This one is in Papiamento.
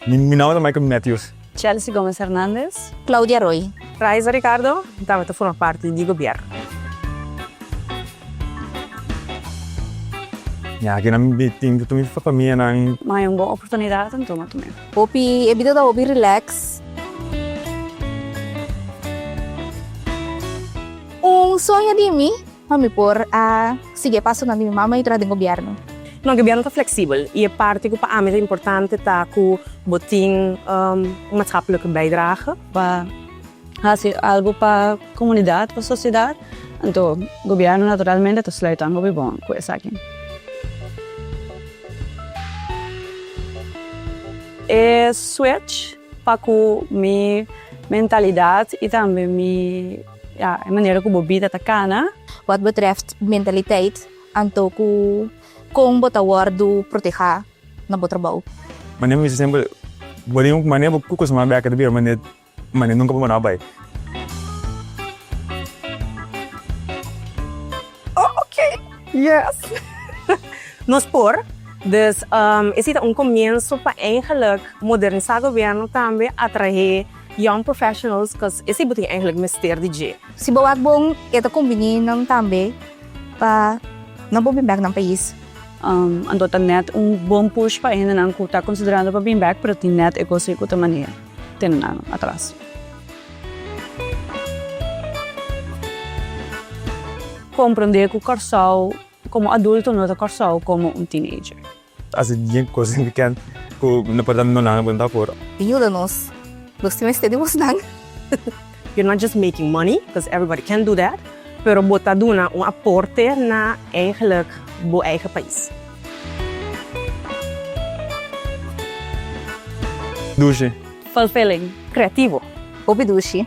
Mi nomber ta Michael Matthews. Chelsea Gomez Hernandez. Claudia Roy. Raiza Ricardo, mi tabata forma parti di gobierno. Mi aki na mi tin ta tuma mi familianan. Maya un bon oportunidad, mi tuma tumbe. Hopi e bida ta hopi relax. Un soño di mi pa mi por a sigui e pasonan di mi mama i traha den gobièrnu. No, gobièrnu ta fleksibel i e parti ku pa ami ta importante ta ku bo tin un maatskaplik bijdrage. Pa Hasi algu pa komunidat, pa sosiedat, anto gobièrnu naturalmente ta sluit an hopi bon ku esaki. E switch pa ku mi mentalidat i tambe mi, ya, e manera ku bo bida ta kana. Wòt betrèft mentaliteit, anto ku kon bo ta wòrdu protehá na bo trabou? Manera mi bisa sempel, bo den un manera bo kuko sama bèk, ta bira manera Mane nunka bo manao bai. Oh ok yes nos por. Dus esi ta un comienso pa eigenlijk modernisa gobierno tambe atrahe young professionals cos esi bo tin eigenlijk mester di dje. Si bo wak bon e ta convini nan tambe pa nan por bin back nan pais. Anto ta net un bon push pa hende nan cu ta considerando pa bin back pero tin net e cos ei cu ta mania. te un ano atras. Komprendé ku Kòrsou komo adulto no ta Kòrsou komo un teenager. Hasi djé kos signifikant ku no por ta nunannan buen papur. Yuda nos, nos tin mester di bosnan. You're not just making money, cuz everybody can't do that, pero bo ta duna un aporte na eigenlik bo eigen pais. Dushi. Fulfilling. Creativo. Hopi dushi.